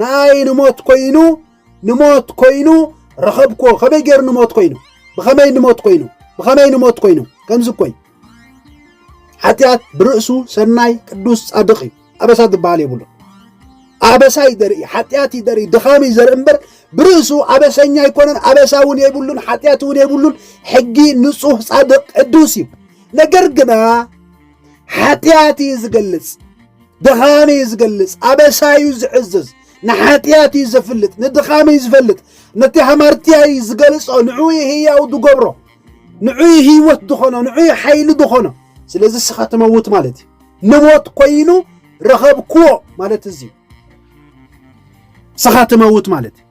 ንኣይ ንሞት ኮይኑ ንሞት ኮይኑ ረኸብኩዎ ከመይ ገይሩ ንሞት ኮይኑ ብኸመይ ንሞት ኮይኑ ብኸመይ ንሞት ኮይኑ ከምዚ ኮይ ሓጢኣት ብርእሱ ሰናይ ቅዱስ ጻድቕ እዩ ኣበሳ ዝበሃል የብሉ ኣበሳ እዩ ዘርኢ ሓጢኣት እዩ ዘርኢ ድኻም እዩ ዘርኢ እምበር ብርእሱ ኣበሰኛ ኣይኮነን ኣበሳ እውን የብሉን ሓጢኣት እውን የብሉን ሕጊ ንጹህ ጻድቕ ቅዱስ እዩ ነገር ግና ሓጢኣት እዩ ዝገልጽ፣ ድኻም እዩ ዝገልጽ፣ ኣበሳ እዩ ዝዕዝዝ፣ ንሓጢኣት እዩ ዘፍልጥ፣ ንድኻም እዩ ዝፈልጥ፣ ነቲ ሃማርትያ እዩ ዝገልጾ፣ ንዑ ህያው ዝገብሮ፣ ንዑ ህይወት ዝኾኖ፣ ንዑ ሓይሊ ዝኾኖ። ስለዚ ስኻ ትመውት ማለት እዩ። ንሞት ኮይኑ ረኸብክዎ ማለት እዚ እዩ። ስኻ ትመውት ማለት እዩ።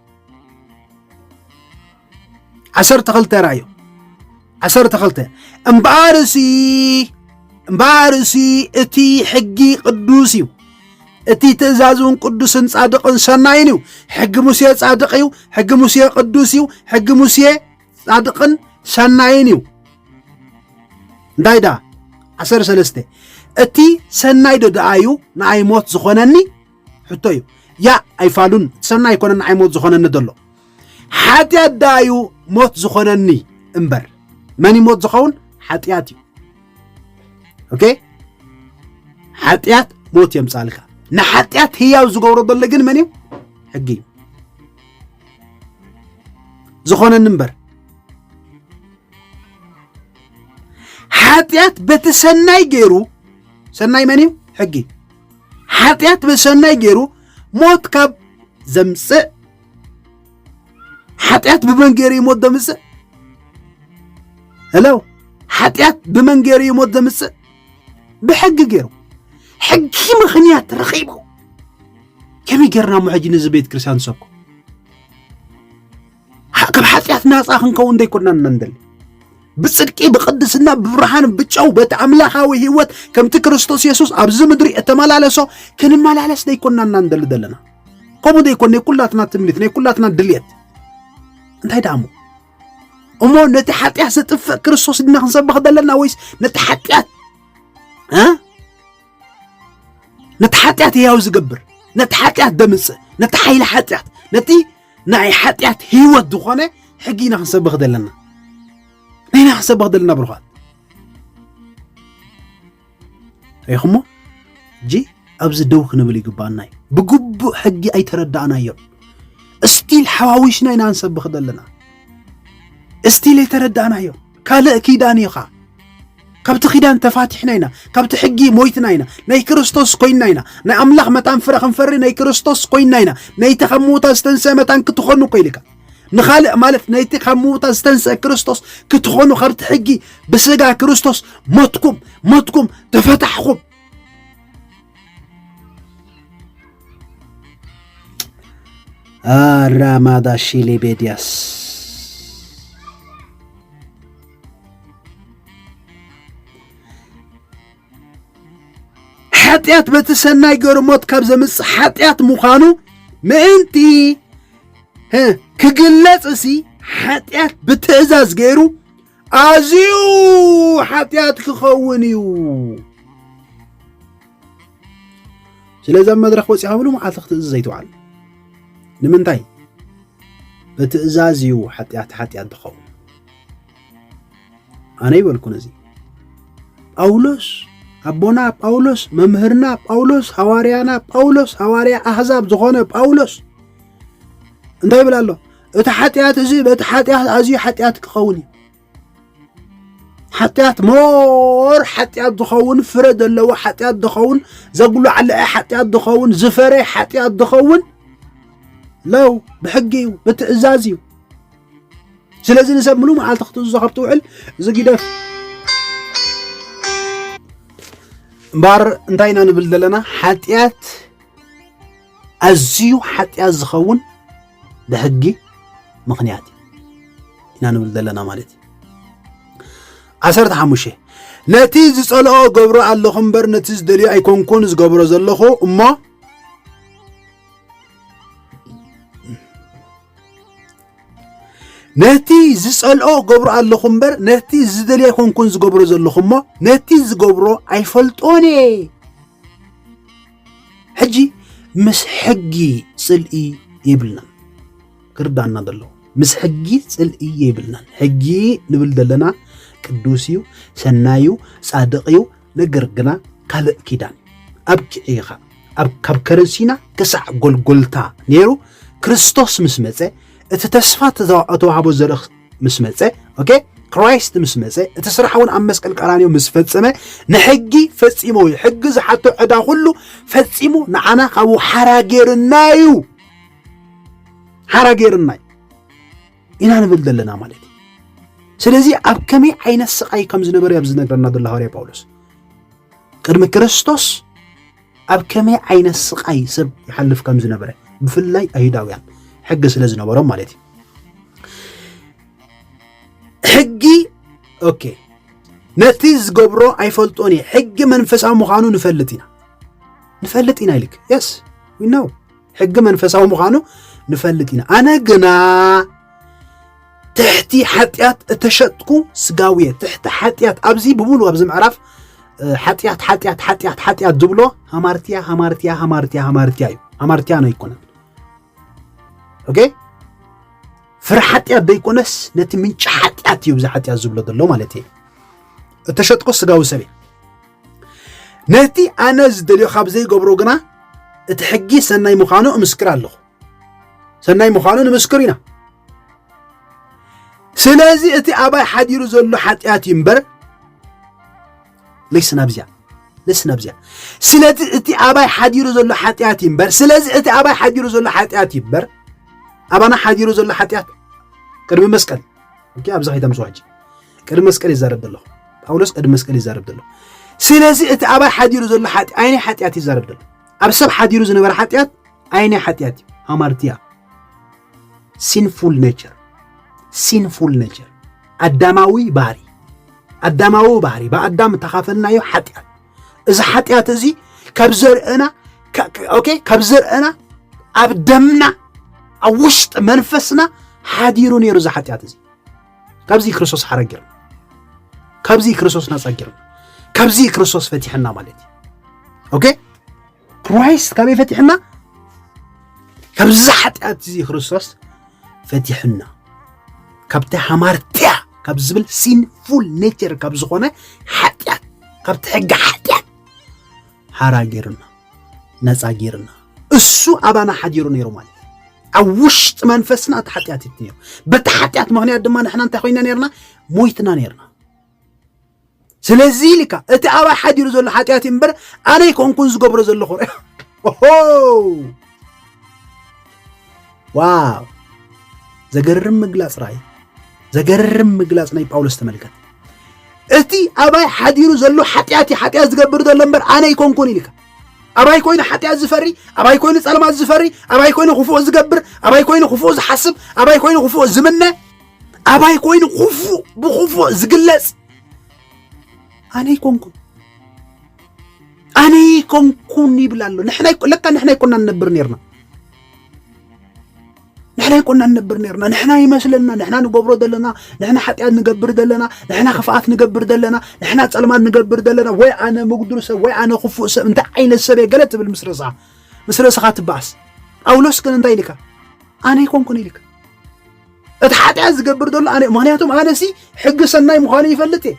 ዓሰርተ ክልተ ራእዩ ዓሰርተ ክልተ እምበኣርሲ እምበኣርሲ እቲ ሕጊ ቅዱስ እዩ እቲ ትእዛዝ እውን ቅዱስን ጻድቕን ሰናይን እዩ ሕጊ ሙሴ ጻድቕ እዩ ሕጊ ሙሴ ቅዱስ እዩ ሕጊ ሙሴ ጻድቕን ሰናይን እዩ እንታይ ደኣ ዓሰርተ ሰለስተ እቲ ሰናይ ዶ ደኣ እዩ ንኣይ ሞት ዝኾነኒ ሕቶ እዩ ያ ኣይፋሉን ሰናይ ኣይኮነን ንዓይ ሞት ዝኾነኒ ዘሎ ሓጢኣት ደኣ እዩ ሞት ዝኾነኒ እምበር መን እዩ ሞት ዝኸውን ሓጢኣት እዩ ኦኬ ሓጢኣት ሞት የምፃልካ ንሓጢኣት ህያው ዝገብሮ ዘሎ ግን መን እዩ ሕጊ እዩ ዝኾነኒ እምበር ሓጢኣት በቲ ሰናይ ገይሩ ሰናይ መን እዩ ሕጊ እዩ ሓጢኣት ብሰናይ ገይሩ ሞት ካብ ዘምፅእ ሓጢኣት ብመን ገይሩ እዩ ሞት ዘምፅእ ሄሎ ሓጢኣት ብመን ገይሩ እዩ ሞት ዘምፅእ ብሕጊ ገይሩ ሕጊ ምኽንያት ረኺቡ ከመይ ጌርና እሞ ሕጂ ነዚ ቤት ክርስቲያን ንሰብኮ ካብ ሓጢኣት ናፃ ክንከውን ዘይኮናን መንደል ብጽድቂ ብቅድስና ብብርሃን ብጨው በቲ ኣምላኻዊ ህይወት ከምቲ ክርስቶስ የሱስ ኣብዚ ምድሪ እተመላለሶ ክንመላለስ ዘይኮናና ንደሊ ዘለና ከምኡ ዘይኮን ናይ ኩላትና ትምኒት ናይ ኩላትና ድልየት እንታይ ደኣሞ እሞ ነቲ ሓጢኣት ዘጥፍእ ክርስቶስ ድና ክንሰብኽ ዘለና ወይስ ነቲ ሓጢኣት ነቲ ሓጢኣት ህያው ዝገብር ነቲ ሓጢኣት ደምፅእ ነቲ ሓይሊ ሓጢኣት ነቲ ናይ ሓጢኣት ህይወት ዝኾነ ሕጊ ኢና ክንሰብኽ ዘለና ንሕና ክንሰብኽ ዘለና ብሩኻት ሪኹሞ እጂ ኣብዚ ደው ክንብል ይግባኣና እዩ ብግቡእ ሕጊ ኣይተረዳእናዮ እስቲል ሓዋዊስና ኢና ንሰብኽ ዘለና እስቲል ኣይተረዳእናዮ ካልእ ኪዳን እዩ ኸኣ ካብቲ ኪዳን ተፋቲሕና ኢና ካብቲ ሕጊ ሞይትና ኢና ናይ ክርስቶስ ኮይንና ኢና ናይ ኣምላኽ መታን ፍረ ክንፈሪ ናይ ክርስቶስ ኮይንና ኢና ነይቲ ካብ ምዉታ ዝተንስአ መታን ክትኾኑ እኮ ኢልካ ንኻልእ ማለት ነቲ ካብ ምውታ ዝተንስአ ክርስቶስ ክትኾኑ ካብቲ ሕጊ ብስጋ ክርስቶስ ሞትኩም ሞትኩም ተፈታሕኹም Ramaadashiilee Beediyaas ሓጢኣት በቲ ሰናይ ገሩ ሞት ካብ ዘምጽእ ሓጢኣት ምዃኑ ምእንቲ ክግለጽ እሲ ሓጢኣት ብትእዛዝ ገይሩ ኣዝዩ ሓጢኣት ክኸውን እዩ ስለዚ ኣብ መድረኽ ወፂኻ ምሉ መዓልቲ ክትእዝዝ ዘይትውዓል ንምንታይ ብትእዛዝ እዩ ሓጢኣት ሓጢኣት ዝኸውን ኣነ ይበልኩን እዚ ጳውሎስ ኣቦና ጳውሎስ መምህርና ጳውሎስ ሃዋርያና ጳውሎስ ሃዋርያ ኣሕዛብ ዝኾነ ጳውሎስ እንታይ ይብል ኣሎ እቲ ሓጢኣት እዚ በቲ ሓጢኣት ኣዝዩ ሓጢኣት ክኸውን እዩ ሓጢኣት ሞር ሓጢኣት ዝኸውን ፍረ ዘለዎ ሓጢኣት ዝኸውን ዘጉላዕልዐ ሓጢኣት ዝኸውን ዝፈረ ሓጢኣት ዝኸውን ለው ብሕጊ እዩ ብትእዛዝ እዩ ስለዚ ንሰብ ምሉ መዓልቲ ክትእዝዞ ካብ ትውዕል እዚ ጊደፍ እምበር እንታይ ኢና ንብል ዘለና ሓጢኣት ኣዝዩ ሓጢኣት ዝኸውን ብሕጊ ምኽንያት እዩ ኢና ንብል ዘለና ማለት እዩ ዓሰርተ ሓሙሽተ ነቲ ዝጸልኦ ገብሮ ኣለኹ እምበር ነቲ ዝደልዮ ኣይኮንኩን ዝገብሮ ዘለኹ እሞ ነቲ ዝጸልኦ ገብሮ ኣለኹ እምበር ነቲ ዝደልዮ ኣይኮንኩን ዝገብሮ ዘለኹ እሞ ነቲ ዝገብሮ ኣይፈልጦን እየ ሕጂ ምስ ሕጊ ጽልኢ የብልናን ክርዳና ዘሎ ምስ ሕጊ ጽልኢ የብልናን ሕጊ ንብል ዘለና ቅዱስ እዩ ሰናይ እዩ ጻድቕ እዩ ነገር ግና ካልእ ኪዳን ኣብ ኪዕኻ ኣብ ካብ ከረሲና ክሳዕ ጎልጎልታ ነይሩ ክርስቶስ ምስ መጸ እቲ ተስፋ ተዋህቦ ዘርኢ ምስ መፀ ኦኬ ክራይስት ምስ መፀ እቲ ስራሕ እውን ኣብ መስቀል ቀራንዮ ምስ ፈፀመ ንሕጊ ፈፂሞ እዩ ሕጊ ዝሓቶ ዕዳ ኩሉ ፈፂሙ ንዓና ካብኡ ሓራ ጌርና እዩ ሓራ ጌርና እዩ ኢና ንብል ዘለና ማለት እዩ ስለዚ ኣብ ከመይ ዓይነት ስቃይ ከም ዝነበረ ኣብ ዝነገረና ዘሎ ሃዋርያ ጳውሎስ ቅድሚ ክርስቶስ ኣብ ከመይ ዓይነት ስቓይ ሰብ ይሓልፍ ከም ዝነበረ ብፍላይ ኣይሁዳውያን ሕጊ ስለ ዝነበሮም ማለት እዩ ሕጊ ኦኬ ነቲ ዝገብሮ ኣይፈልጦን እየ ሕጊ መንፈሳዊ ምዃኑ ንፈልጥ ኢና ንፈልጥ ኢና ኢልክ የስ ዊናው ሕጊ መንፈሳዊ ምዃኑ ንፈልጥ ኢና ኣነ ግና ትሕቲ ሓጢኣት እተሸጥኩ ስጋውየ ትሕቲ ሓጢኣት ኣብዚ ብሙሉ ኣብዚ ምዕራፍ ሓጢኣት ሓጢኣት ሓጢኣት ሓጢኣት ዝብሎ ሃማርትያ ሃማርትያ ሃማርትያ ሃማርትያ እዩ ሃማርትያ ነው ኣይኮነን ኦኬ ፍረ ሓጢኣት ዘይኮነስ ነቲ ምንጪ ሓጢኣት እዩ ብዚ ሓጢኣት ዝብሎ ዘሎ ማለት እዩ እተሸጥኩ ስጋዊ ሰብ እዩ ነቲ ኣነ ዝደልዮ ካብ ዘይገብሮ ግና እቲ ሕጊ ሰናይ ምዃኑ እምስክር ኣለኹ ሰናይ ምዃኑ ንምስክር ኢና ስለዚ እቲ ኣባይ ሓዲሩ ዘሎ ሓጢኣት እዩ እምበር ለይስና ብዚያ ለስና ብዚያ ስለቲ እቲ ኣባይ ሓዲሩ ዘሎ ሓጢኣት እዩ እምበር ስለዚ እቲ ኣባይ ሓዲሩ ዘሎ ሓጢኣት እዩ እምበር ኣባና ሓዲሩ ዘሎ ሓጢኣት ቅድሚ መስቀል እኪ ኣብዚ ከይተምፅዋ ሕጂ ቅድሚ መስቀል ይዛረብ ዘሎ ጳውሎስ ቅድሚ መስቀል ይዛረብ ዘሎ ስለዚ እቲ ኣባይ ሓዲሩ ዘሎ ሓጢ ኣይናይ ሓጢኣት ይዛረብ ዘሎ ኣብ ሰብ ሓዲሩ ዝነበረ ሓጢኣት ኣይናይ ሓጢኣት እዩ ሃማርትያ ሲንፉል ኔቸር ሲንፉል ኔቸር ኣዳማዊ ባህሪ ኣዳማዊ ባህሪ ብኣዳም እተኻፈልናዮ ሓጢኣት እዚ ሓጢኣት እዚ ካብ ዘርእና ኦኬ ካብ ዘርእና ኣብ ደምና ኣብ ውሽጢ መንፈስና ሓዲሩ ነይሩ እዚ ሓጢኣት እዚ ካብዚ ክርስቶስ ሓራ ጌርና ካብዚ ክርስቶስ ናፃ ጌርና ካብዚ ክርስቶስ ፈቲሐና ማለት እዩ ኦኬ ክራይስት ካበይ ፈቲሕና ካብዚ ሓጢኣት እዚ ክርስቶስ ፈቲሕና ካብቲ ሃማርትያ ካብ ዝብል ሲንፉል ኔቸር ካብ ዝኾነ ሓጢኣት ካብቲ ሕጊ ሓጢኣት ሓራ ጌርና ነፃ ጌርና እሱ ኣባና ሓዲሩ ነይሩ ማለት ኣብ ውሽጢ መንፈስና እቲ ሓጢኣት እዩ ነይሩ በቲ ሓጢኣት ምክንያት ድማ ንሕና እንታይ ኮይና ነርና ሞይትና ነርና ስለዚ ኢልካ እቲ ኣባይ ሓዲሩ ዘሎ ሓጢኣት እዩ እምበር ኣነ ኣይኮንኩን ዝገብሮ ዘለኹ ኦ ዋው ዘገርም ምግላፅ ራእይ ዘገርም ምግላፅ ናይ ጳውሎስ ተመልከት እቲ ኣባይ ሓዲሩ ዘሎ ሓጢኣት እዩ ሓጢኣት ዝገብር ዘሎ እምበር ኣነ ይኮንኩን ኢልካ ኣባይ ኮይኑ ሓጢኣት ዝፈሪ ኣባይ ኮይኑ ፀልማት ዝፈሪ ኣባይ ኮይኑ ክፉእ ዝገብር ኣባይ ኮይኑ ክፉእ ዝሓስብ ኣባይ ኮይኑ ክፉእ ዝምነ ኣባይ ኮይኑ ክፉእ ብክፉእ ዝግለፅ ኣነ ኣይኮንኩን ኣነ ኣይኮንኩን ይብል ኣሎ። ለካ ንሕና ኣይኮና ንነብር ነርና ንሕና ኣይኮና ንነብር ነርና ንሕና ይመስለና ንሕና ንገብሮ ዘለና ንሕና ሓጢኣት ንገብር ዘለና ንሕና ክፍኣት ንገብር ዘለና ንሕና ጸልማት ንገብር ዘለና ወይ ኣነ ምጉዱል ሰብ ወይ ኣነ ክፉእ ሰብ እንታይ ዓይነት ሰብ እየ ገለ ትብል ምስ ርእስኻ ምስ ርእስኻ ትበኣስ ጳውሎስ ግን እንታይ ኢልካ ኣነ ኣይኮንኩን ኢልካ እቲ ሓጢኣት ዝገብር ዘሎ ኣነ ምክንያቱም ኣነሲ ሕጊ ሰናይ ምዃኑ ይፈልጥ እየ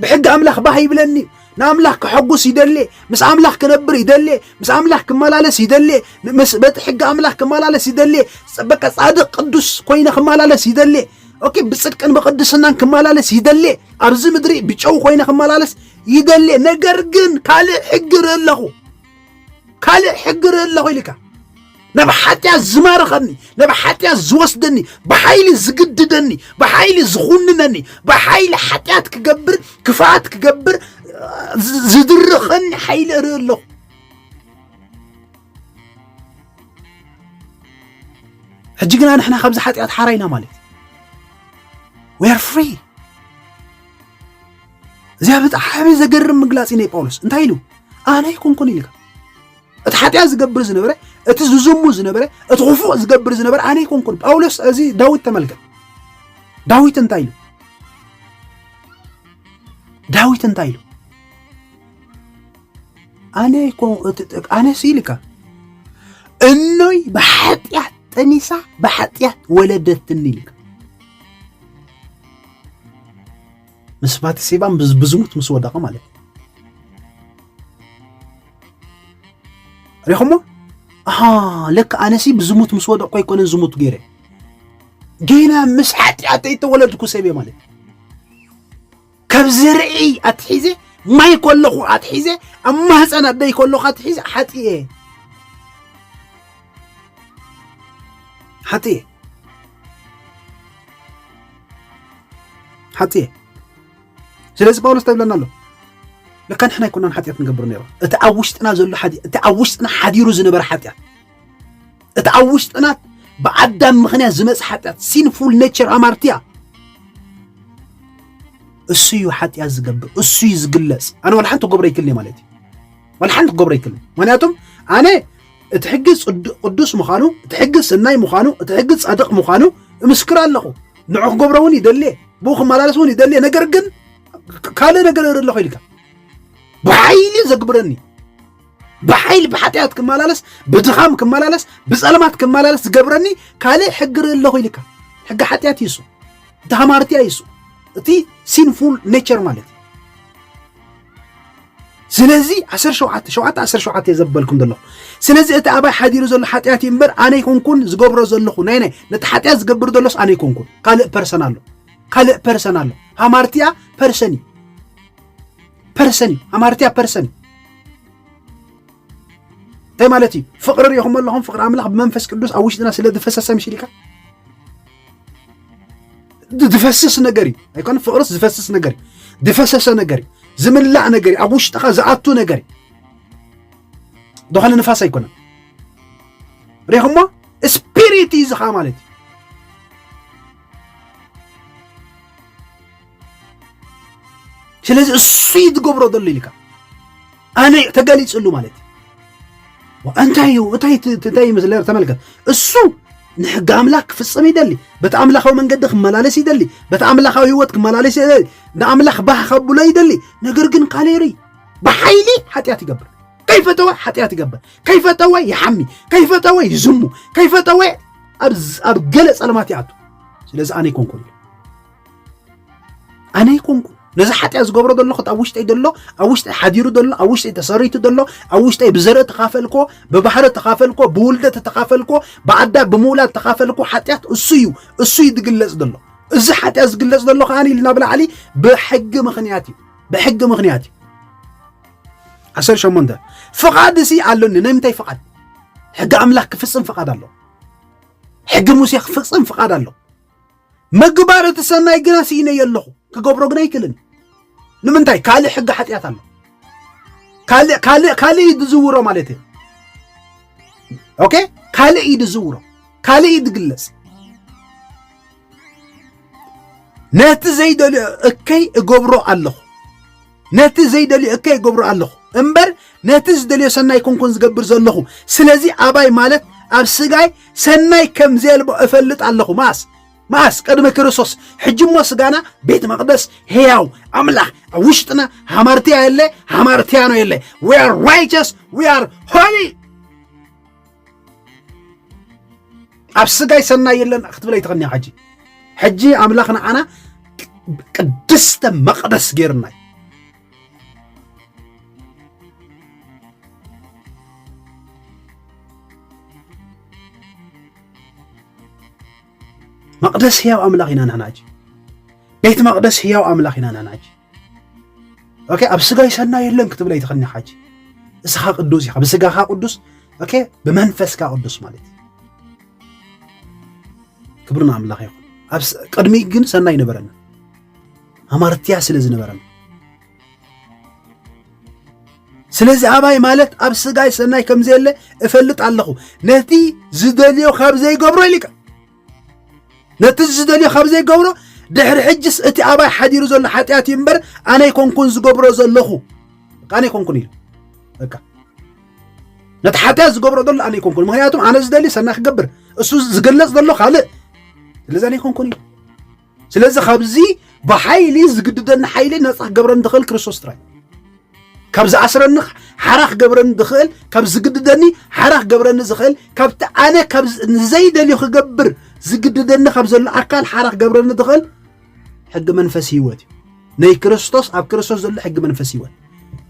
ብሕጊ ኣምላኽ ባህ ይብለኒ እዩ ንኣምላኽ ክሐጉስ ይደልየ ምስ ኣምላኽ ክነብር ይደልየ ምስ ኣምላኽ ክመላለስ ይደልየ ምስ በቲ ሕጊ ኣምላኽ ክመላለስ ይደልየ በቃ ጻድቅ ቅዱስ ኮይነ ክመላለስ ይደልየ ኦኬ ብጽድቅን ብቅድስናን ክመላለስ ይደልየ ኣብዚ ምድሪ ብጨው ኮይነ ክመላለስ ይደልየ ነገር ግን ካልእ ሕጊ ርኢ ኣለኹ ካልእ ሕጊ ርኢ ኣለኹ ኢልካ ናብ ሓጢኣት ዝማርኸኒ ናብ ሓጢኣት ዝወስደኒ ብሓይሊ ዝግድደኒ ብሓይሊ ዝኹንነኒ ብሓይሊ ሓጢኣት ክገብር ክፍኣት ክገብር ዝድርኸኒ ሓይሊ እርኢ ኣለኹ ሕጂ ግና ንሕና ካብዚ ሓጢኣት ሓራይና ማለት ወር ፍሪ እዚኣ ብጣዕሚ ዘገርም ምግላጺ ናይ ጳውሎስ እንታይ ኢሉ ኣነ ኣይኮንኩን ኢልካ እቲ ሓጢኣት ዝገብር ዝነበረ እቲ ዝዝሙ ዝነበረ እቲ ክፉእ ዝገብር ዝነበረ ኣነ ኣይኮንኩን ጳውሎስ እዚ ዳዊት ተመልከት ዳዊት እንታይ ኢሉ ዳዊት እንታይ ኢሉ ኣነ ኣነ ስኢልካ እኖይ ብሓጢኣት ጠኒሳ ብሓጢኣት ወለደትኒ ኢልካ ምስ ባትሴባ ብዝሙት ምስ ወደቐ ማለት እዩ ሪኹሞ ኣሃ ለካ ኣነሲ ብዝሙት ምስ ወደቕኩ ኣይኮነን ዝሙት ገይረ ገና ምስ ሓጢኣተይ ተወለድኩ ሰብ እየ ማለት ካብ ዝርኢ ኣትሒዘ ማይ ከለኹ ኣትሒዘ ኣብ ማህፀን ኣደይ ከለኹ ኣትሒዘ ሓጢ እየ ሓጢ እየ ሓጥየ ስለዚ ጳውሎስ እንታይ ይብለና ኣሎ ልካ ንሕና ኣይኮናን ሓጢኣት ንገብር ነይሩ እቲ ኣብ ውሽጥና ዘሎ እቲ ኣብ ውሽጥና ሓዲሩ ዝነበረ ሓጢኣት እቲ ኣብ ውሽጥና ብኣዳም ምክንያት ዝመፅ ሓጢኣት ሲንፉል ኔቸር ኣማርትያ እሱ እዩ ሓጢኣት ዝገብር እሱ እዩ ዝግለፅ ኣነ ዋላ ሓንቲ ክገብሮ ይክልኒ ማለት እዩ ዋላ ሓንቲ ክገብሮ ይክልኒ ምክንያቱም ኣነ እቲ ሕጊ ቅዱስ ምዃኑ እቲ ሕጊ ሰናይ ምዃኑ እቲ ሕጊ ጻድቕ ምዃኑ እምስክር ኣለኹ ንዑ ክገብሮ እውን ይደልየ ብኡ ክመላለስ እውን ይደልየ ነገር ግን ካልእ ነገር እርኢ ኣለኹ ኢልካ ብሓይሊ ዘግብረኒ ብሓይሊ ብሓጢኣት ክመላለስ ብድኻም ክመላለስ ብፀልማት ክመላለስ ዝገብረኒ ካልእ ሕጊ ርኢ ኣለኹ ኢልካ ሕጊ ሓጢኣት ይሱ እቲ ሃማርትያ ይሱ እቲ ሲንፉል ኔቸር ማለት እዩ ስለዚ ዓሰርተ ሸውዓተ ሸውዓተ ዓሰርተ ሸውዓተ እየ ዘበልኩም ዘለኹ ስለዚ እቲ ኣባይ ሓዲሩ ዘሎ ሓጢኣት እዩ እምበር ኣነ ይኮንኩን ዝገብሮ ዘለኹ ናይ ናይ ነቲ ሓጢኣት ዝገብር ዘሎስ ኣነ ይኮንኩን ካልእ ፐርሰን ኣሎ ካልእ ፐርሰን ኣሎ ሃማርቲያ ፐርሰን እዩ ፐርሰን እዩ ሃማርቲያ ፐርሰን እዩ እንታይ ማለት እዩ ፍቅሪ ሪኢኹም ኣለኹም ፍቅሪ ኣምላኽ ብመንፈስ ቅዱስ ኣብ ውሽጥና ስለ ዝፈሰሰ ምሽሊካ ዝፈስስ ነገር እዩ ኣይኮነ ፍቅርስ ዝፈስስ ነገር እዩ ዝፈሰሰ ነገር እዩ ዝምላእ ነገር እዩ ኣብ ውሽጥኻ ዝኣቱ ነገር እዩ ዝኾነ ንፋስ ኣይኮነን ሪኹሞ ስፒሪት እዩ ዝኻ ማለት እዩ ስለዚ እሱይ ዝገብሮ ዘሎ ኢልካ ኣነ ተገሊፅሉ ማለት እዩ እንታይ እዩ እታይ እንታይ ይመስለ ተመልከት እሱ ንሕጊ ኣምላኽ ክፍፅም ይደሊ በቲ ኣምላኻዊ መንገዲ ክመላለስ ይደሊ በቲ ኣምላኻዊ ህይወት ክመላለስ ይደሊ ንኣምላኽ ባህ ከብሎ ይደሊ ነገር ግን ካሌሪ ብሓይሊ ሓጢኣት ይገብር ከይፈተወ ሓጢኣት ይገብር ከይፈተወ ይሓሚ ከይፈተወ ይዝሙ ከይፈተወ ኣብ ገለ ፀልማት ይኣቱ ስለዚ ኣነ ይኮንኩን ኣነ ይኮንኩ ነዚ ሓጢኣ ዝገብሮ ዘሎ ክት ኣብ ውሽጠይ ዘሎ ኣብ ውሽጠይ ሓዲሩ ዘሎ ኣብ ውሽጠይ ተሰሪቱ ዘሎ ኣብ ውሽጠይ ብዘርኢ ተኻፈልኮ ብባህሪ ተኻፈልኮ ብውልደት ተኻፈልኮ ብኣዳ ብምውላድ ተኻፈልኮ ሓጢኣት እሱ እዩ እሱ እዩ ዝግለጽ ዘሎ እዚ ሓጢኣት ዝግለጽ ዘሎ ከኣ ኢልና ብላዕሊ ብሕጊ ምኽንያት እዩ ብሕጊ ምኽንያት እዩ ዓሰርተ ሸሞንተ ፍቓድ እዚ ኣሎኒ ናይ ምንታይ ፍቓድ ሕጊ ኣምላኽ ክፍጽም ፍቓድ ኣሎ ሕጊ ሙሴ ክፍጽም ፍቓድ ኣሎ ምግባር እቲ ሰናይ ግና ስኢነዮ ኣለኹ ክገብሮ ግን ኣይክእልን ንምንታይ ካልእ ሕጊ ሓጢኣት ኣሎ ካልእ ካልእ ካልእ እዩ ዝዝውሮ ማለት እዩ ኦኬ ካልእ እዩ ዝዝውሮ ካልእ እዩ ዝግለጽ ነቲ ዘይደልዮ እከይ እገብሮ ኣለኹ ነቲ ዘይደልዮ እከ ይገብሮ ኣለኹ እምበር ነቲ ዝደልዮ ሰናይ ኮንኮን ዝገብር ዘለኹ ስለዚ ኣባይ ማለት ኣብ ስጋይ ሰናይ ከም ዘልቦ እፈልጥ ኣለኹ ማስ ማስ ቅድሚ ክርስቶስ ሕጅሞ ስጋና ቤት መቅደስ ሕያው ኣምላኽ ኣብ ውሽጥና ሃማርትያ የለ ሃማርትያኖ የለ ዊ ኣር ራይቸስ ዊ ኣር ሆሊ ኣብ ስጋይ ሰናይ የለን ክትብለይ ትኽኒያ ሕጂ ሕጂ ኣምላኽ ንዓና ቅድስተ መቕደስ ገይርናይ መቅደስ ህያው ኣምላኽ ኢና ንሕና ሕጂ ቤት መቅደስ ህያው ኣምላኽ ኢና ንሕና ሕጂ ኦኬ ኣብ ስጋይ ሰናይ የለን ክትብለ ይትኽኒ ሓጂ እስኻ ቅዱስ ኢኻ ብስጋኻ ቅዱስ ኦኬ ብመንፈስካ ቅዱስ ማለት እዩ ክብሪ ንኣምላኽ ይኹን ቅድሚ ግን ሰናይ ነበረና ኣማርትያ ስለ ዝነበረና ስለዚ ኣባይ ማለት ኣብ ስጋይ ሰናይ ከም ዘየለ እፈልጥ ኣለኹ ነቲ ዝደልዮ ካብ ዘይገብሮ ኢሊካ ነቲ ዝደልዮ ካብ ዘይገብሮ ድሕሪ ሕጅስ እቲ ኣባይ ሓዲሩ ዘሎ ሓጢኣት እዩ እምበር ኣነ ይኮንኩን ዝገብሮ ዘለኹ ኣነ ይኮንኩን ኢሉ በቃ ነቲ ሓጢኣት ዝገብሮ ዘሎ ኣነ ይኮንኩን ምክንያቱም ኣነ ዝደልዩ ሰናይ ክገብር እሱ ዝገለፅ ዘሎ ካልእ ስለዚ ኣነ ይኮንኩን ኢሉ ስለዚ ካብዚ ብሓይሊ ዝግድደኒ ሓይሊ ነፃ ክገብረኒ ዝኽእል ክርስቶስ ጥራይ ካብ ዝኣስረኒ ሓራ ክገብረኒ ዝኽእል ካብ ዝግድደኒ ሓራ ክገብረኒ ዝኽእል ካብቲ ኣነ ካብ ንዘይደልዮ ክገብር ዝግድደኒ ካብ ዘሎ ኣካል ሓራ ክገብረኒ ዝኽእል ሕጊ መንፈስ ህይወት እዩ ናይ ክርስቶስ ኣብ ክርስቶስ ዘሎ ሕጊ መንፈስ ህይወት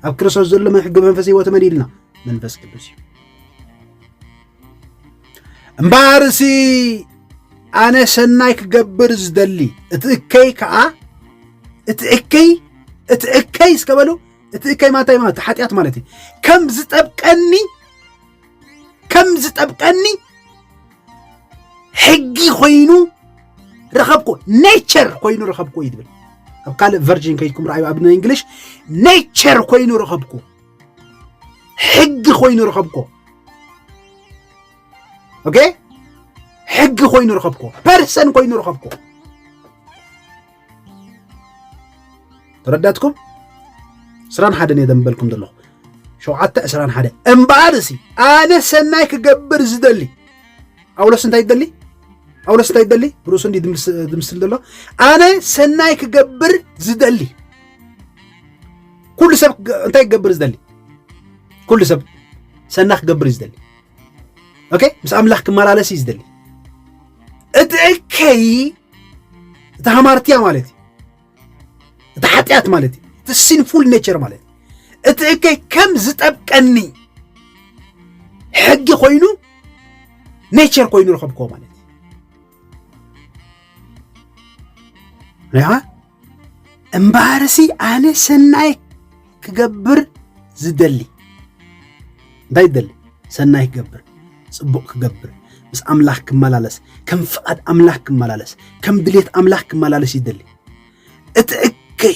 ኣብ ክርስቶስ ዘሎ ሕጊ መንፈስ ህይወት መን ኢልና መንፈስ ቅዱስ እዩ እምበኣርሲ ኣነ ሰናይ ክገብር ዝደሊ እቲ እከይ ከዓ እቲ እከይ እቲ እከይ እስከ በሉ እቲ እከይ ማንታይ ማለት ሓጢኣት ማለት እዩ ከም ዝጠብቀኒ ከም ዝጠብቀኒ ሕጊ ኮይኑ ረኸብኩ ኔቸር ኮይኑ ረኸብኩ እዩ ትብል ኣብ ካልእ ቨርጂን ከይድኩም ረኣዩ ኣብ እንግሊሽ ኔቸር ኮይኑ ረኸብኩ ሕጊ ኮይኑ ረኸብኮ ኦኬ ሕጊ ኮይኑ ረኸብኮ ፐርሰን ኮይኑ ረኸብኮ ተረዳትኩም ዕስራን ሓደን እየ ደንበልኩም ዘለኹ ሸውዓተ ዕስራን ሓደ እምበኣር እሲ ኣነ ሰናይ ክገብር ዝደሊ ጳውሎስ እንታይ ይደሊ ጳውሎስ እንታይ ይደሊ ርእሱ እንዲ ዝምስል ዘሎ ኣነ ሰናይ ክገብር ዝደሊ ኩሉ ሰብ እንታይ ክገብር ዝደሊ ኩሉ ሰብ ሰና ክገብር እዩ ዝደሊ ኦኬ ምስ ኣምላኽ ክመላለስ እዩ ዝደሊ እቲ እከይ እቲ ሃማርትያ ማለት እዩ እቲ ሓጢኣት ማለት እዩ እቲ ሲንፉል ኔቸር ማለት እዩ እቲ እከይ ከም ዝጠብቀኒ ሕጊ ኮይኑ ኔቸር ኮይኑ ረኸብክዎ ማለት እዩ እምበኣርሲ ኣነ ሰናይ ክገብር ዝደሊ እንታይ ይደሊ ሰናይ ክገብር ፅቡቕ ክገብር ምስ ኣምላኽ ክመላለስ ከም ፍቓድ ኣምላኽ ክመላለስ ከም ድሌት ኣምላኽ ክመላለስ ይደሊ እቲ እከይ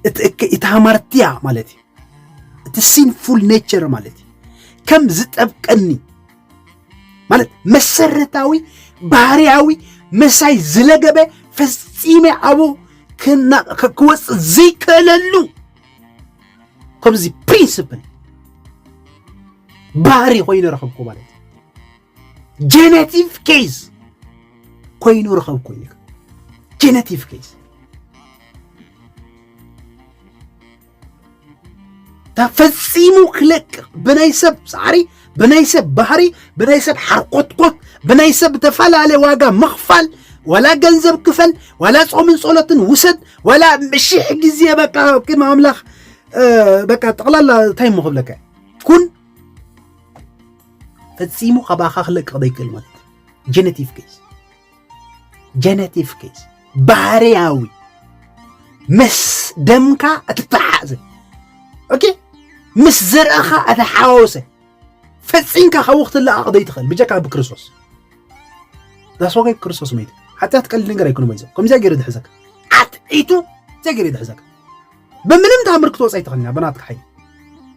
እቲ እከይ እቲ ሃማርትያ ማለት እዩ እቲ ሲንፉል ኔቸር ማለት እዩ ከም ዝጠብቀኒ ማለት መሰረታዊ ባህርያዊ ምሳይ ዝለገበ ፈጺመ ኣብኡ ክወፅእ ዘይክእለሉ ከምዚ ፕሪንስፕል ባህሪ ኮይኑ ረኸብኩ ማለት እዩ ጀነቲቭ ኬዝ ኮይኑ ረኸብኩ እዩ ጀነቲቭ ኬዝ ተፈጺሙ ክለቅ ብናይ ሰብ ፃዕሪ ብናይ ሰብ ባህሪ ብናይ ሰብ ሓርኮትኮት ብናይ ሰብ ተፈላለ ዋጋ ምኽፋል ዋላ ገንዘብ ክፈል ዋላ ጾምን ጸሎትን ውሰድ ዋላ ሽሕ ግዜ በቃ ቅድሚ ኣምላኽ በቃ ጠቕላላ እንታይ እሞ ክብለካ ኩን ፈጺሙ ካባኻ ክለቅቕ ዘይክእል ማለት ጀነቲቭ ኬስ ጀነቲቭ ኬዝ ባህርያዊ ምስ ደምካ እትተሓዘ ኦኬ ምስ ዘርእኻ እተሓዋወሰ ፈፂምካ ካብኡ ክትለኣቕ ዘይትኽእል ብጀካ ብክርስቶስ ዳስዋጋይ ክርስቶስ መይቱ ሓጢኣት ቀሊል ነገር ኣይኮነ መይዞ ከምዚያ ገይሩ ዝሕዘካ ዓትዒቱ ዘይ ገይሩ ዝሕዘካ ብምንም ታምር ክትወፅ ኣይትኽእልና ብናትካ ሓይሊ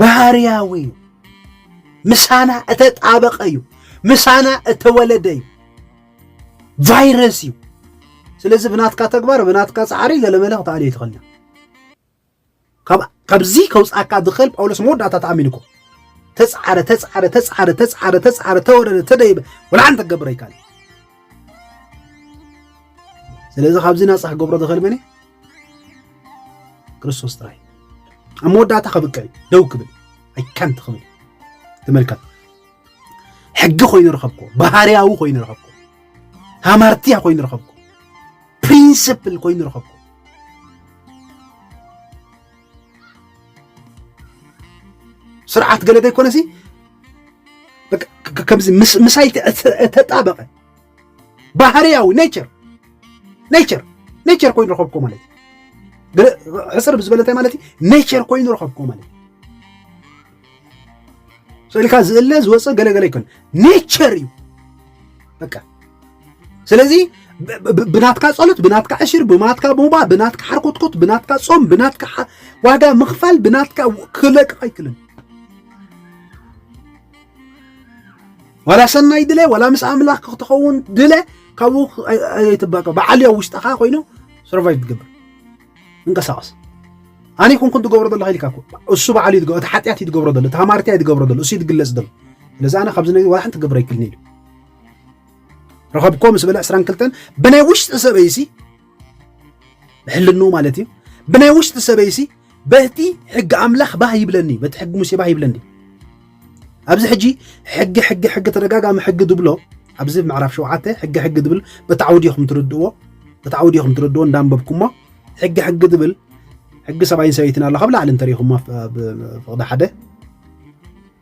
ባህርያዊ እዩ። ምሳና እተጣበቐ እዩ። ምሳና እተወለደ እዩ። ቫይረስ እዩ። ስለዚ ብናትካ ተግባር ብናትካ ፃዕሪ ገለመለ ክትኣልዮ ይትኽእል ካብዚ ከውፃካ ዝኽእል ጳውሎስ መወዳእታ ተኣሚኑ እኮ ተፃዕረ ተፃዕረ ተፃዕረ ተፃዕረ ተፃዕረ ተወረደ ተደይበ ወላሓንቲ ክገብረ ይካል ስለዚ ካብዚ ናፃ ክገብሮ ዝኽእል መን እዩ ክርስቶስ ጥራይ ኣብ መወዳእታ ከብቅዕ ደው ክብል ኣይካንት ክብል ተመልከት ሕጊ ኮይኑ ረኸብኩ ባህርያዊ ኮይኑ ረኸብኩ ሃማርትያ ኮይኑ ረኸብኩ ፕሪንስፕል ኮይኑ ረኸብኩ ስርዓት ገለ ዘይኮነሲ ከምዚ ምሳይ ተጣበቐ ባህርያዊ ኔቸር ኔቸር ኔቸር ኮይኑ ረኸብኩ ማለት እዩ ሕፅር ብዝበለ እንታይ ማለት እዩ ኔቸር ኮይኑ ረኸብኩ ማለት እዩ ስእልካ ዝእለ ዝወፀ ገለገለ ይኮን ኔቸር እዩ በቃ ስለዚ ብናትካ ጸሎት ብናትካ ዕሽር ብናትካ ሞባ ብናትካ ሓርኮትኮት ብናትካ ጾም ብናትካ ዋጋ ምኽፋል ብናትካ ክለቅቕ ኣይክልን ዋላ ሰናይ ድለ ዋላ ምስ ኣምላኽ ክትኸውን ድለ ካብኡ ኣይትባቀ በዓል ኣብ ውሽጥኻ ኮይኑ ሰርቫይቭ ትገብር እንቀሳቐስ ኣነ ይኹንኩን ትገብሮ ዘለኹ ኢልካ እኮ እሱ በዓሉ እዩ እቲ ሓጢኣት እዩ ትገብሮ ዘሎ እቲ ሃማርትያ እዩ ትገብሮ ዘሎ እሱ እዩ ትግለጽ ዘሎ ስለዚ ኣነ ካብዚ ነገር ዋላ ሓንቲ ክገብር ኣይክእልን ኢሉ ረኸብኮ ምስ በለ 22 ብናይ ውሽጢ ሰበይሲ ብሕልንኡ ማለት እዩ ብናይ ውሽጢ ሰበይሲ በቲ ሕጊ ኣምላኽ ባህ ይብለኒ በቲ ሕጊ ሙሴ ባህ ይብለኒ ኣብዚ ሕጂ ሕጊ ሕጊ ሕጊ ተደጋጋሚ ሕጊ ድብሎ ኣብዚ ምዕራፍ ሸውዓተ ሕጊ ሕጊ ድብል በታዕዊ ዲኹም ትርድእዎ በታዕዊ ዲኹም ትርድእዎ እንዳንበብኩሞ ሕጊ ሕጊ ድብል ሕጊ ሰብኣይን ሰበይትን ኣሎ ካብ ላዕሊ እንተሪኹሞ ፍቕዲ ሓደ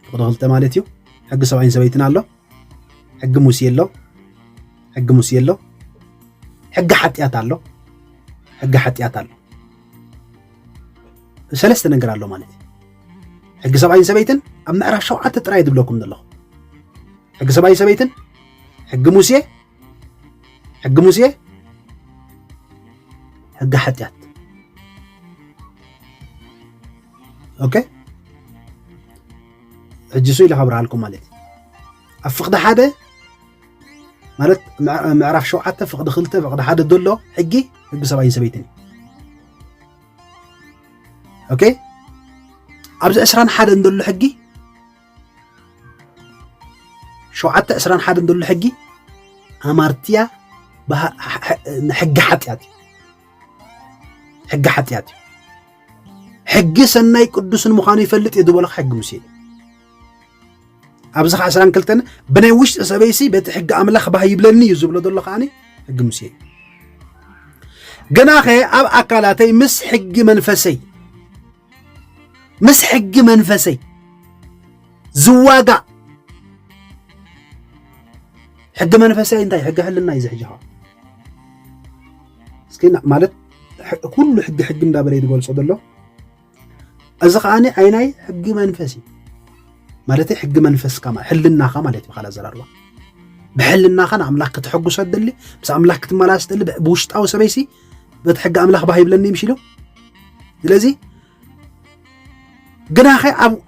ፍቕዲ ክልተ ማለት እዩ ሕጊ ሰብኣይን ሰበይትን ኣሎ ሕጊ ሙሴ ኣሎ ሕጊ ሙሴ ኣሎ ሕጊ ሓጢኣት ኣሎ ሕጊ ሓጢኣት ኣሎ ሰለስተ ነገር ኣሎ ማለት እዩ ሕጊ ሰብኣይን ሰበይትን ኣብ ምዕራፍ ሸውዓተ ጥራይ ዝብለኩም ዘለኹ ሕጊ ሰብኣይን ሰበይትን ሕጊ ሙሴ ሕጊ ሙሴ ሕጊ ሓጢኣት ኦኬ ሕጂ ሱ ኢለ ካብርሃልኩም ማለት እዩ ኣብ ፍቕዲ ሓደ ማለት ምዕራፍ ሸውዓተ ፍቕዲ ክልተ ፍቕዲ ሓደ ዘሎ ሕጊ ሕጊ ሰብኣይን ሰበይትን እዩ ኦኬ ኣብዚ ዕስራን ሓደን ዘሎ ሕጊ ሸውዓተ ዕስራን ሓደን ዘሎ ሕጊ ኣማርትያ ሕጊ ሓጢኣት እዩ ሕጊ ሓጢኣት እዩ ሕጊ ሰናይ ቅዱስን ምዃኑ ይፈልጥ እዩ ዝበለካ ሕጊ ሙሴ እዩ ኣብዚ ከዓ ዕስራን ክልተን ብናይ ውሽጢ ሰበይሲ በቲ ሕጊ ኣምላኽ ባህ ይብለኒ እዩ ዝብሎ ዘሎ ከዓኒ ሕጊ ሙሴ እዩ ግናኸ ኣብ ኣካላተይ ምስ ሕጊ መንፈሰይ ምስ ሕጊ መንፈሰይ ዝዋጋእ ሕጊ መንፈሰይ እንታይ ሕጊ ሕልና እዩ ዝሕጂ እስኪ ማለት ኩሉ ሕጊ ሕጊ እንዳበለ ይገልፆ ዘሎ እዚ ከዓ ዓይናይ ሕጊ መንፈስ እዩ ማለት ሕጊ መንፈስካ ሕልናኻ ማለት ብካል ኣዘራርባ ብሕልናኻ ንኣምላኽ ከተሐጉሶ ትደሊ ምስ ኣምላኽ ክትመላለስ ትደሊ ብውሽጣዊ ሰበይሲ በቲ ሕጊ ኣምላኽ ባህ ይብለኒ ምሽ ኢሉ ስለዚ ግናኸ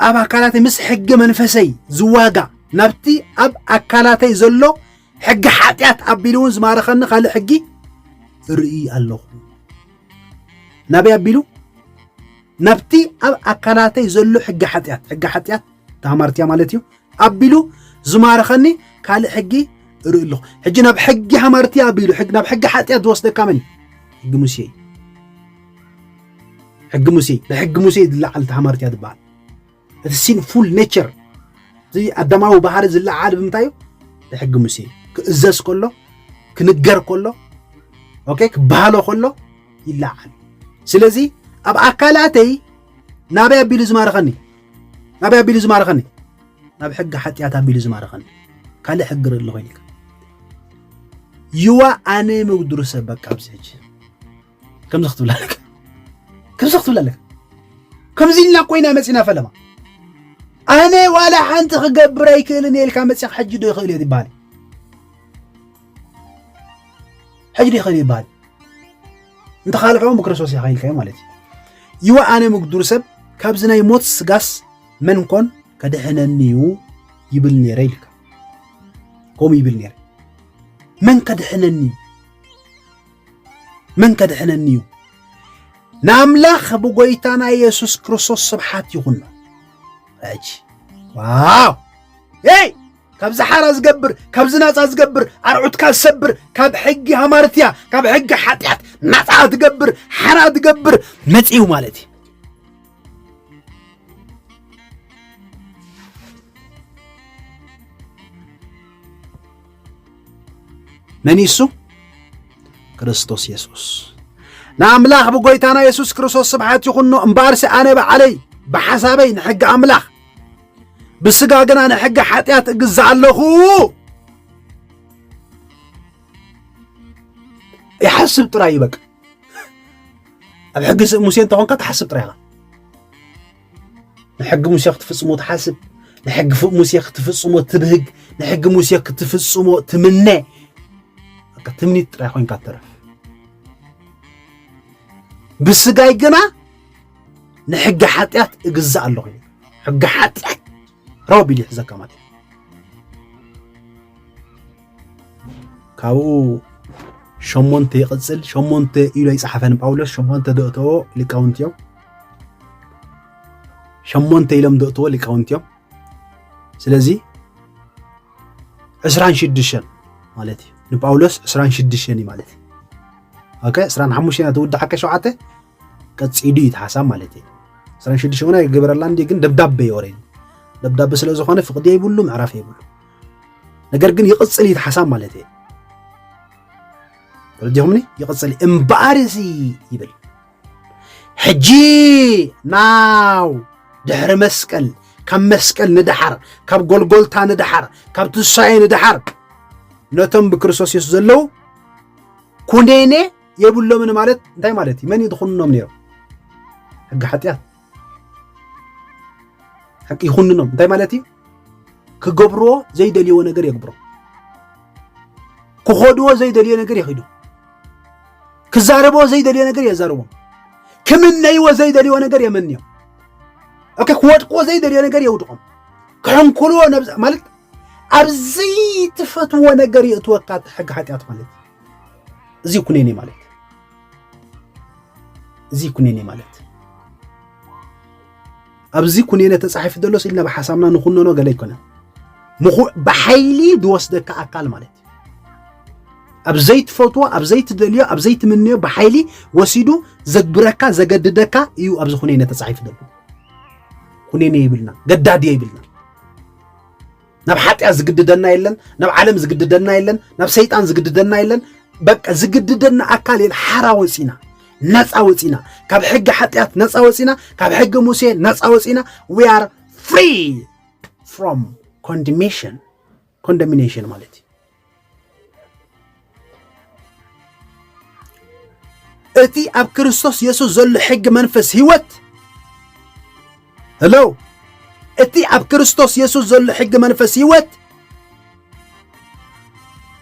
ኣብ ኣካላተይ ምስ ሕጊ መንፈሰይ ዝዋጋ ናብቲ ኣብ ኣካላተይ ዘሎ ሕጊ ሓጢኣት ኣቢሉ እውን ዝማረኸኒ ካልእ ሕጊ ርኢ ኣለኹ ናበይ ኣቢሉ ናብቲ ኣብ ኣካላተይ ዘሎ ሕጊ ሓጢኣት ሕጊ ሓጢኣት ተሃማርትያ ማለት እዩ ኣቢሉ ዝማርኸኒ ካልእ ሕጊ እርኢ ኣለኹ ሕጂ ናብ ሕጊ ሃማርትያ ኣቢሉ ናብ ሕጊ ሓጢኣት ዝወስደካ መን ሕጊ ሙሴ እዩ ሕጊ ሙሴ ብሕጊ ሙሴ ዝለዓል ተሃማርትያ ዝበሃል እቲ ሲንፉል ኔቸር እዚ ኣዳማዊ ባህሪ ዝለዓል ብምንታይ እዩ ብሕጊ ሙሴ እዩ ክእዘዝ ከሎ ክንገር ከሎ ኦኬ ክበሃሎ ከሎ ይለዓል ስለዚ ኣብ ኣካላተይ ናበይ ኣቢሉ ዝማርኸኒ ናበይ ኣቢሉ ዝማርኸኒ ናብ ሕጊ ሓጢኣት ኣቢሉ ዝማርኸኒ ካልእ ሕጊ ርእሊ ኮይንካ ይዋ ኣነ ምጉድርሰ በቃ ኣብዚ ሕጂ ከምዚ ክትብል ኣለካ ከምዚ ክትብል ኣለካ ከምዚ ኢልና ኮይና መፂና ፈለማ ኣነ ዋላ ሓንቲ ክገብር ኣይክእልን እየ ኢልካ መፂኻ ሕጂ ዶ ይኽእል እዮ ይበሃል ሕጂ ዶ ይኽእል ይበሃል እንተካልሕዎ ምክርስቶስ ኢኻ ኢልካዮ ማለት እዩ ይዋ ኣነ ምግዱር ሰብ ካብዚ ናይ ሞት ስጋስ መን ኮን ከድሕነኒ እዩ ይብል ነይረ ኢልካ ከምኡ ይብል ነይረ መን ከድሕነኒ እዩ መን ከድሕነኒ እዩ? ንኣምላኽ ብጎይታና ኢየሱስ ክርስቶስ ስብሓት ይኹኖ። ሕጂ ዋው ይ ካብ ዝሓራ ዝገብር ካብ ዝናፃ ዝገብር ኣርዑትካ ዝሰብር ካብ ሕጊ ሃማርትያ ካብ ሕጊ ሓጢኣት ናፃ ትገብር ሓራ ትገብር መፅኡ ማለት እዩ መን እዩ እሱ? ክርስቶስ የሱስ። ንኣምላኽ ብጐይታና የሱስ ክርስቶስ ስብሓት ይኹኖ። እምበኣርሲ ኣነ በዓለይ ብሓሳበይ ንሕጊ ኣምላኽ ብስጋ ግና ንሕጊ ሓጢኣት እግዛእ ኣለኹ። ይሓስብ ጥራይ እዩ በቃ ኣብ ሕጊ ሙሴ እንተኾንካ ትሓስብ ጥራይ ኢኻ ንሕጊ ሙሴ ክትፍጽሞ ትሓስብ ንሕጊ ሙሴ ክትፍጽሞ ትብህግ ንሕጊ ሙሴ ክትፍጽሞ ትምነ በቃ ትምኒት ጥራይ ኮንካ ትተርፍ ብስጋይ ግና ንሕጊ ሓጢኣት እግዛእ ኣለኹ ሕጊ ሓጢኣት ረው ኣቢሉ ይሕዘካ ማለት እዩ ካብኡ ሸሞንተ ይቕፅል ሸሞንተ ኢሉ ኣይፀሓፈን ጳውሎስ ሸሞንተ ዘእተዎ ሊቃውንቲ እዮም ሸሞንተ ኢሎም ዘእተዎ ሊቃውንቲ እዮም ስለዚ ዕስራን ሽዱሽተን ማለት እዩ ንጳውሎስ ዕስራን ሽዱሽተን እዩ ማለት እዩ ኦኬ ዕስራን ሓሙሽተን ትውዳሓከ ሸውዓተ ቀፂሉ እዩ እቲ ሓሳብ ማለት እዩ ዕስራን ሽዱሽተ እውን ኣይገበረላ እንዲ ግን ደብዳቤ እዩ ኦሬዲ ደብዳቤ ስለ ዝኾነ ፍቕዲ የብሉ ምዕራፍ የብሉ ነገር ግን ይቕፅል እዩ እቲ ሓሳብ ማለት እዩ ተረዲኹምኒ ይቕፅል እምበኣር እዚ ይብል ሕጂ ናው ድሕሪ መስቀል ካብ መስቀል ንደሓር ካብ ጎልጎልታ ንደሓር ካብ ትንሳኤ ንደሓር ነቶም ብክርስቶስ የሱስ ዘለዉ ኩነኔ የብሎምን ማለት እንታይ ማለት እዩ? መን እዩ ዝኹንኖም ነይሩ? ሕጊ ሓጢኣት ሕቂ ይኹንኖም እንታይ ማለት እዩ? ክገብርዎ ዘይደልይዎ ነገር የግብሮ፣ ክኸድዎ ዘይደልዮ ነገር ይኺዱ፣ ክዛረብዎ ዘይደልዮ ነገር የዛርቦም፣ ክምነይዎ ዘይደልይዎ ነገር የመንዮም፣ ኦኬ ክወድቅዎ ዘይደልዮ ነገር የውድቆም፣ ክሕንኩልዎ ማለት ኣብዚ ትፈትዎ ነገር የእትወካ ሕጊ ሓጢኣት ማለት እዩ። እዚ ኩነኔ ማለት እዚ ኩነኔ ማለት ኣብዚ ኩነኔ ተጻሒፉ ዘሎስ ኢልና ብሓሳብና ንኹነኖ ገለ ይኮነ ብሓይሊ ዝወስደካ ኣካል ማለት ኣብ ዘይትፈትዎ ኣብ ዘይትደልዮ ኣብ ዘይትምንዮ ብሓይሊ ወሲዱ ዘግብረካ ዘገድደካ እዩ ኣብዚ ኩነኔ ተጻሒፉ ዘሎ ኩነኔ ይብልና ገዳድዮ ይብልና ናብ ሓጢኣት ዝግድደና የለን፣ ናብ ዓለም ዝግድደና የለን፣ ናብ ሰይጣን ዝግድደና የለን። በቃ ዝግድደና ኣካል የለ። ሓራ ወፂና ነፃ ወፂና ካብ ሕጊ ሓጢኣት ነፃ ወፂና ካብ ሕጊ ሙሴ ነፃ ወፂና ዊ ኣር ፍሪ ፍሮም ኮንዲሜሽን ኮንዶሚኔሽን ማለት እዩ። እቲ ኣብ ክርስቶስ የሱስ ዘሎ ሕጊ መንፈስ ህይወት ሄሎ እቲ ኣብ ክርስቶስ የሱስ ዘሎ ሕጊ መንፈስ ህይወት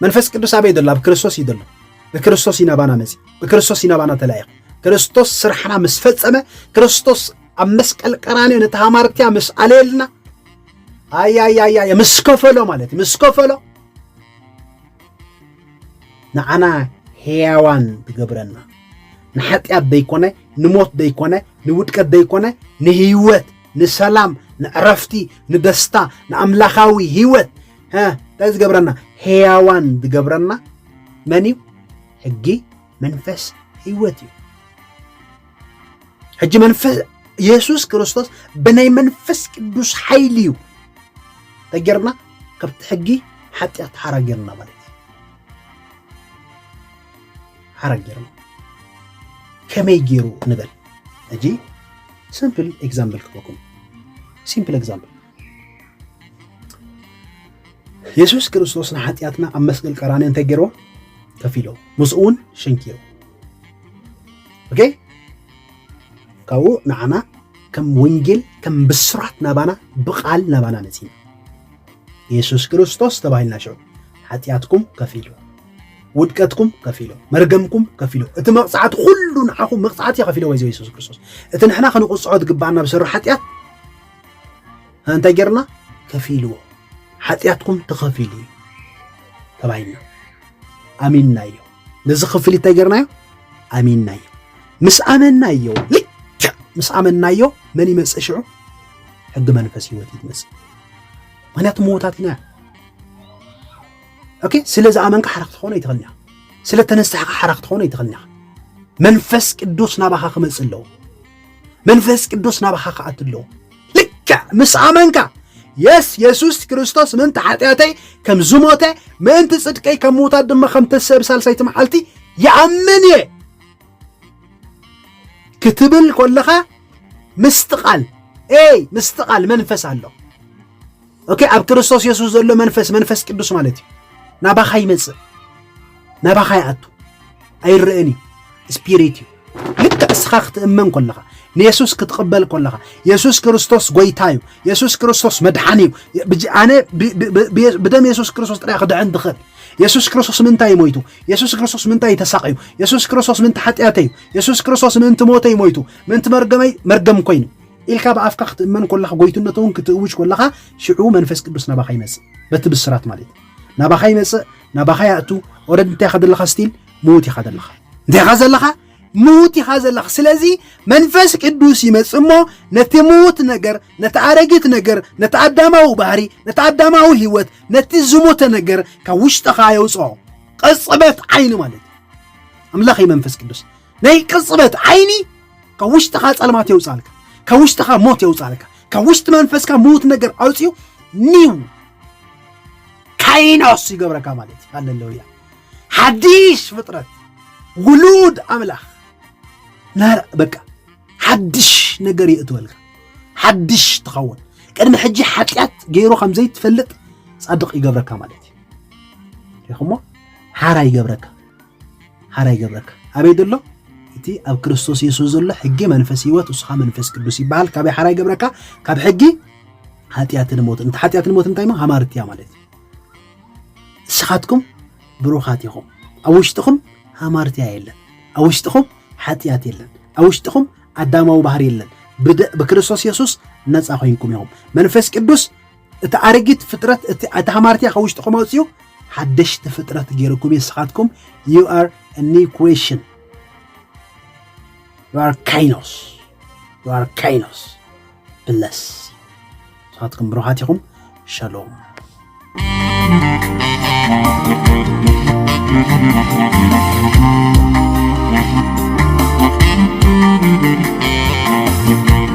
መንፈስ ቅዱስ ኣበይ ዘሎ ኣብ ክርስቶስ እዩ ዘሎ ብክርስቶስ ይናባና መፂ ብክርስቶስ ይናባና ተላኢኹ ክርስቶስ ስራሕና ምስ ፈፀመ ክርስቶስ ኣብ መስቀል ቀራንዮ ነቲ ሃማርትያ ምስ ኣለየልና ኣያያያያ ምስ ከፈሎ ማለት ምስ ከፈሎ ንዓና ሕያዋን ትገብረና ንሓጢኣት ዘይኮነ ንሞት ዘይኮነ ንውድቀት ዘይኮነ ንህይወት ንሰላም ንዕረፍቲ ንደስታ ንኣምላኻዊ ህይወት እንታይ ዝገብረና ሕያዋን ዝገብረና መን እዩ ሕጊ መንፈስ ህይወት እዩ ሕጂ መንፈስ የሱስ ክርስቶስ ብናይ መንፈስ ቅዱስ ሓይሊ እዩ ተጌርና ካብቲ ሕጊ ሓጢኣት ሓራጌርና ማለት እዩ ሓራጌርና ከመይ ገይሩ ንበል ሕጂ ሲምፕል ኤግዛምፕል ክበኩም ሲምፕል ኤግዛምፕል የሱስ ክርስቶስ ንሓጢኣትና ኣብ መስቀል ቀራኒ እንታይ ገይሮ ከፊሎ ምስኡ እውን ሸንኪሩ ኦኬ ካብኡ ንዓና ከም ወንጌል ከም ብስራት ናባና ብቓል ናባና መፅዩ የሱስ ክርስቶስ ተባሂልና ሽዑ ሓጢኣትኩም ከፊሉ ውድቀትኩም ከፊሎ መርገምኩም ከፊሎ እቲ መቕፃዕቲ ኩሉ ንዓኹም መቕፃዕቲ ከፊሎ ወይዘ የሱስ ክርስቶስ እቲ ንሕና ክንቕፅዖ ትግባኣና ብሰሩ ሓጢኣት እንታይ ጌርና ከፊልዎ ሓጢኣትኩም ተኸፊሉ እዩ ተባሂልና ኣሚንናዮ ነዚ ክፍል እንታይ ጌርናዮ ኣሚንናዮ ምስ ኣመናዮ ልክዕ ምስ ኣመናዮ መን ይመፅእ ሽዑ ሕጊ መንፈስ ህይወት እዩ ትመፅእ ምክንያቱ ምዉታት ኢና ኦኬ ስለ ዝኣመንካ ሓራ ክትኾነ ይትኽእል ኒኻ ስለ ተነሳሕካ ሓራ ክትኾነ ይትኽእል ኒኻ መንፈስ ቅዱስ ናባኻ ክመፅእ ኣለዎ መንፈስ ቅዱስ ናባኻ ክኣት ኣለዎ ልክዕ ምስ ኣመንካ የስ የሱስ ክርስቶስ ምእንቲ ሓጢኣተይ ከም ዝሞተ ምእንቲ ጽድቀይ ከም ምውታት ድማ ከም ተሰብ ሳልሳይቲ መዓልቲ ይኣምን እየ ክትብል ኮለኻ ምስትቓል ኤይ ምስትቓል መንፈስ ኣሎ ኦኬ ኣብ ክርስቶስ የሱስ ዘሎ መንፈስ መንፈስ ቅዱስ ማለት እዩ ናባኻ ይመጽእ ናባኻ ይኣቱ ኣይረአን እዩ ስፒሪት እዩ ልክዕ እስኻ ክትእመን ኮለኻ ንየሱስ ክትቕበል ኮለኻ የሱስ ክርስቶስ ጎይታ እዩ የሱስ ክርስቶስ መድሓኒ እዩ ኣነ ብደም የሱስ ክርስቶስ ጥራይ ክድሕን ትኽእል የሱስ ክርስቶስ ምንታይ እዩ ሞይቱ የሱስ ክርስቶስ ምንታይ እዩ ተሳቕዩ የሱስ ክርስቶስ ምንቲ ሓጢኣተይ እዩ የሱስ ክርስቶስ ምንቲ ሞተይ ሞይቱ ምንቲ መርገመይ መርገም ኮይኑ ኢልካ ብኣፍካ ክትእመን ኮለኻ ጎይትነቱውን ክትእውጅ ኮለኻ ሽዑ መንፈስ ቅዱስ ናባኻ ይመጽእ በቲ ብስራት ማለት ናባኻ ይመጽእ ናባኻ ያእቱ ኦረድ እንታይ ኢኻ ዘለኻ ስቲል ምዉት ኢኻ ዘለኻ እንታይ ኢኻ ዘለኻ ምዉት ኢኻ ዘለኻ ስለዚ መንፈስ ቅዱስ ይመጽእ እሞ ነቲ ምዉት ነገር ነቲ ኣረጊት ነገር ነቲ ኣዳማዊ ባህሪ ነቲ ኣዳማዊ ህይወት ነቲ ዝሞተ ነገር ካብ ውሽጥኻ የውፅኦ ቅፅበት ዓይኒ ማለት ኣምላኽ መንፈስ ቅዱስ ናይ ቅጽበት ዓይኒ ካብ ውሽጥኻ ጸልማት የውጻልካ ካብ ውሽጥኻ ሞት የውጻልካ ካብ ውሽጢ መንፈስካ ምዉት ነገር ኣውፅኡ ኒው ካይኖስ ይገብረካ ማለት እዩ ሃለሉያ ሓዲሽ ፍጥረት ውሉድ ኣምላኽ ናር በቃ ሓድሽ ነገር የእትወልካ ሓድሽ ትኸውን ቅድሚ ሕጂ ሓጢኣት ገይሩ ከም ዘይትፈልጥ ጻድቕ ይገብረካ ማለት እዩ ሪኹሞ ሓራ ይገብረካ ሐራይ ገብረካ ኣበይ ደሎ እቲ ኣብ ክርስቶስ የሱስ ዘሎ ሕጊ መንፈስ ህይወት እሱኻ መንፈስ ቅዱስ ይበሃል ካበይ ሐራይ ገብረካ ካብ ሕጊ ኃጢኣትን ሞትን እንተ ኃጢኣትን ሞት እንታይ ሞ ሃማርት እያ ማለት ንስኻትኩም ብሩኻት ኢኹም ኣብ ውሽጥኹም ሃማርትያ የለን ኣብ ውሽጥኹም ኃጢኣት የለን ኣብ ውሽጥኹም ኣዳማዊ ባህር የለን ብክርስቶስ የሱስ ነፃ ኮይንኩም ኢኹም መንፈስ ቅዱስ እቲ ኣረጊት ፍጥረት እቲ እቲ ሃማርትያ ካብ ውሽጥኹም ኣውፅኡ ሓደሽቲ ፍጥረት ገይርኩም ንስኻትኩም ዩ ኣር ኒው ክሬሽን ዩ ኣር ካይኖስ ዩ ኣር ካይኖስ ብለስ ንስኻትኩም ብሩኻት ኢኹም ሸሎም Thank you.